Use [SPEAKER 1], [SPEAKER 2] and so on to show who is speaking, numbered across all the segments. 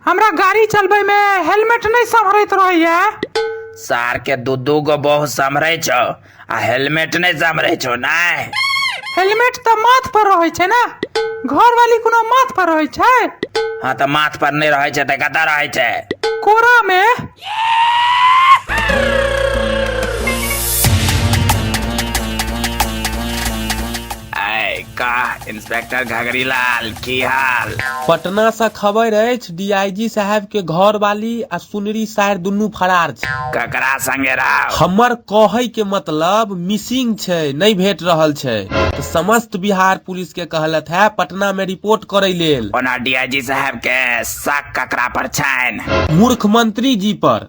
[SPEAKER 1] हमरा गाड़ी चलबै में हेलमेट नहीं संभरैत रहैया सार के दू दू गो बहु सम्हरे छो आ हेलमेट नहीं सम्हरे छो नहीं हेलमेट तऽ माथ पर रहै छै ना घर वाली कोनो माथ पर रहै छै हाँ तो माथ पर नहीं रहे छे तो कतऽ रहे छे कोरा में आय का इंस्पेक्टर घगरीलाल की हाल पटना से खबर अछि डीआईजी साहब के घर वाली आ सुनरी सायर दुनू फरार छै ककरा संगे रहा हमर कहै के मतलब मिसिंग छै नहीं भेट रहल छै त समस्त बिहार पुलिस के कहलत है पटना में रिपोर्ट करे लेल ओना डीआईजी साहब के शक ककरा पर छनि मूर्ख मंत्री जी पर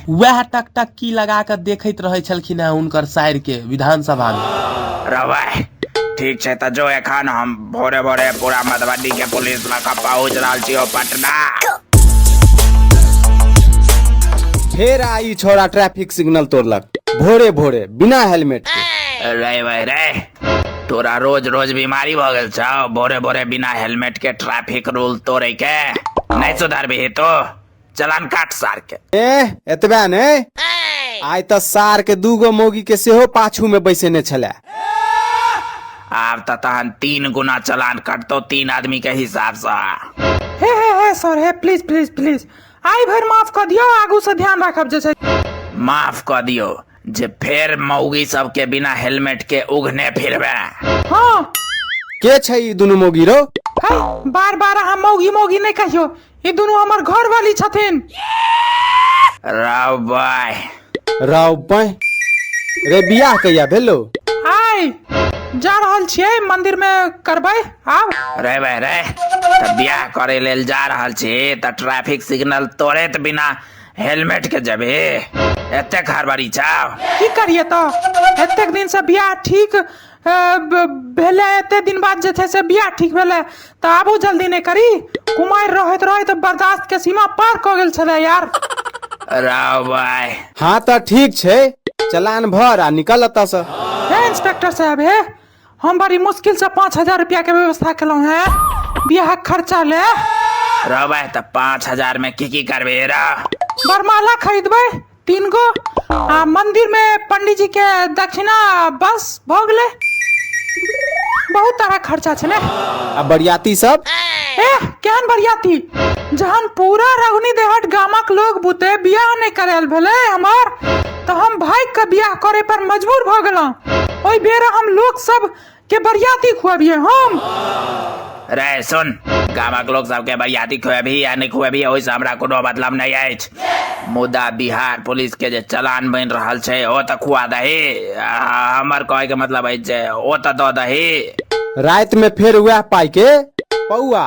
[SPEAKER 1] वह टकटकी लगा के देखत रहे छलखिन है उनकर साइर के विधानसभा में रवाय ठीक छै त जो एखन हम भोरे भोरे पूरा मधुबनी के पुलिस लग पहुंच रहल छी ओ पटना फेर आई छोरा ट्रैफिक सिग्नल तोड़लक भोरे भोरे बिना हेलमेट के रे भाई रे तोरा रोज रोज बीमारी भ गेल छौ भोरे भोरे बिना हेलमेट के ट्रैफिक रूल तोड़े के नहीं सुधरबी तो चलान काट सार के ए एतबे ने आइ तऽ सार के दूगो मौगी के सेहो पाछू में बैसेने छले आब तऽ तहन तीन गुना चलान कटतो तीन आदमी के हिसाब से हे हे हे सर हे प्लीज प्लीज प्लीज आइ भरि माफ कऽ दियौ आगू से ध्यान राखब जे छै माफ कऽ दियौ जे फेर मौगी सबके बिना हेलमेट के उघने फिरबे हँ के छै ई दुनू मौगी रो है बार बार अहाँ मौगी मौगी नहि कहियो ई दुनू हमर घर वाली छथिन राव बाय राव बाय रे बियाह कहिया भेलो आय जा रहल छियै मंदिर में करबै आब रे भाई रे त बियाह करे लेल जा रहल छी त ट्रैफिक सिग्नल तोड़े त बिना हेलमेट के जबे एते घर बारी छाव की करिए तऽ एतेक दिन से बियाह ठीक ए, ब- भेलै एते दिन बाद जे छै से बियाह ठीक भेलै तऽ आबू जल्दी नहि करी कुमारि रहैत रहैत बर्दाश्त के सीमा पार कऽ गेल छलै यार राव भाई हाँ तऽ ठीक छै चलान भर आ निकल एतऽ से हे इंस्पेक्टर साहब हे हम बड़ी मुश्किल से पाँच हजार रुपया के व्यवस्था केलहुँ हे बियाह खर्चा ले राव भाई तऽ पाँच हजार में की की करबे रा बरमाला खरीदबै तीन गो आ मंदिर में पंडित जी के दक्षिणा बस भऽ गेलै बहुत तरह खर्चा छलै आ बरियाती सब एह केहन बरियाती जहन पूरा रघुनी देहट गामक लोग बुते बियाह नहि करायल भेलै हमर तऽ हम भागि कऽ बियाह करे पर मजबूर भऽ गेलहुँ ओहि बेर हम लोक सब के बरियाती खुआबिए हम रे सुन गामक लोक सबके बरियाती खुएबही या नहि खुएबही ओहिसँ हमरा कोनो मतलब नहि अछि मुदा बिहार पुलिस के जे चलान बनि रहल छै ओ तऽ खुआ दही आ हमर कहै के मतलब अछि जे ओ तऽ दऽ दही रातिमे फेर उएह पाइके पौआ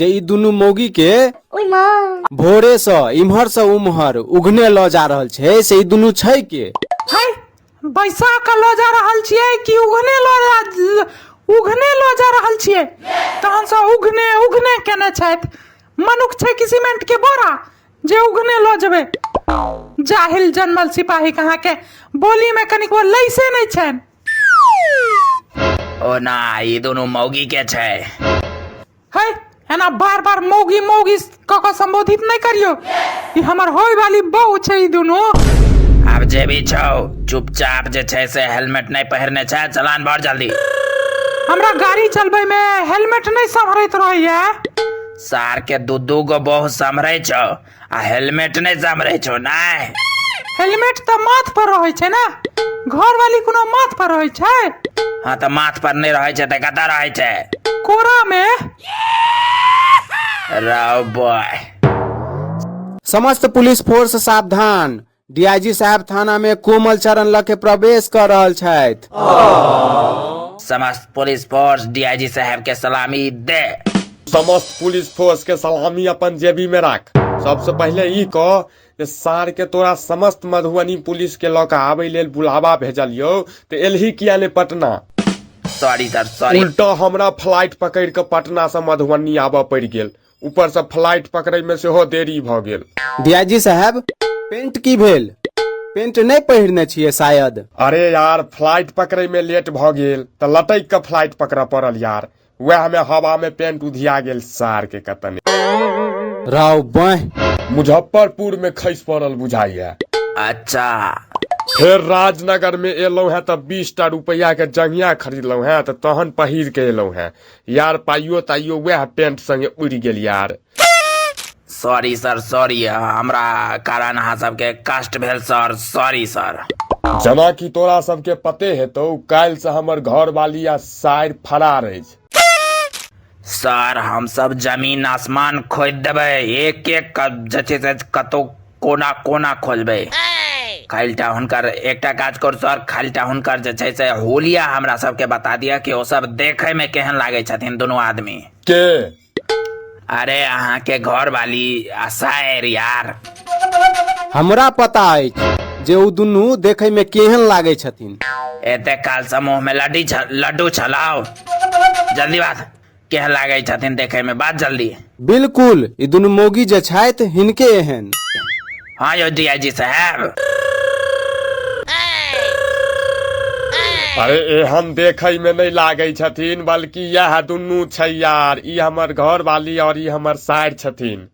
[SPEAKER 1] जे ई दुनू मौगी के ओहि माँ भोरे से इम्हर से उम्हर उघने लऽ जा रहल छै से ई दुनू छै के है बैसा के लऽ जा रहल छियै कि उघने लऽ जा उघने लऽ जा रहल छियै तहन से उघने उघने केने छथि मनुख छै कि सीमेंट के बोरा जे उघने लऽ जेबै जाहिल जनमल सिपाही कहाँ के बोली में कनिको लैसे नहि छनि ओ ना ई दुनू मौगी के छै है एना बार बार मौगी मौगी क के संबोधित नहीं करियो ई हमर होय वाली बहू छै ई दुनू आब जे भी छौ चुपचाप जे छै से हेलमेट नहीं पहिरने छै चलान भर जल्दी हमरा गाड़ी चलबे में हेलमेट नहीं संभरैत रहैया सार के दू दू गो बहु समरे छौ आ हेलमेट नहि समरे छौ नहि हेलमेट तऽ माथ पर रहै छै ने घर वाली कोनो माथ पर रहै छै हाँ तऽ माथ पर नहि रहै छै तऽ कतऽ रहै छै कोरा मे रौ बॉय समस्त पुलिस फोर्स सावधान डीआईजी साहब थाना में कोमल चरण लग के प्रवेश कर रहल छथि समस्त पुलिस फोर्स डीआईजी साहब के सलामी दे समस्त पुलिस फोर्स के सलामी अपन जेबी में राख सबसे पहले ई कह जे सार के तोरा समस्त मधुबनी पुलिस के लऽ कऽ आबै लेल बुलावा भेजलियौ तऽ एलही किया ने पटना सॉरी सर सॉरी उल्टा हमरा फ्लाइट पकड़ि कऽ पटना से मधुबनी आबऽ पड़ि गेल ऊपर से फ्लाइट पकड़े में सेहो देरी भऽ गेल डीआईजी साहब पेंट की भेल पेंट नहीं पहिरने छिए शायद अरे यार फ्लाइट पकड़े में लेट भऽ गेल तऽ लटक के फ्लाइट पकड़ऽ पड़ल यार वएह में हवा में पेंट उधिया गेल सार के कतने राव बाह मुजफ्फरपुर में खसि पड़ल बुझाइया अच्छा फेर राजनगर में एलहुं हैं तऽ बीस टा रुपया के जंगिया खरीदलहुं हैं तऽ तहन पहिर के एलहुं हैं यार पाइयो ताइयो वएह पेंट संगे उड़ गेल यार सॉरी सर सॉरी हमरा कारण अहाँ सबके कष्ट भेल सर सॉरी सर जना कि तोरा सबके पते हेतौ काल्हि से हमर घर वाली आ साइर फरार अछि सर हम सब जमीन आसमान खोद देबै एक एक जे छै से कतौ कोना कोना खोजबै खालिटा हुनकर एकटा काज कर सर खालिटा हुनकर जे छै से होलिया हमरा सबके बता दिअ कि ओ सब देखे में केहन लागे छथिन दुनू आदमी के अरे अहाँ के घर वाली आ शायर यार हमरा पता अछि जे ओ दुनू देखै में केहन लागै छथिन एते काल समूह में लड्डी छ, लड्डू छलाओ जल्दी बात केह लागै छथिन देखै में बात जल्दी बिल्कुल ई दुनू मौगी जे छथि हिनके एहन हाँ यौ डीआईजी साहब अरे एहन देखै में नहीं लागै छथिन बल्कि यह दुनू छै यार ई हमर घर वाली और ई हमर सार छथिन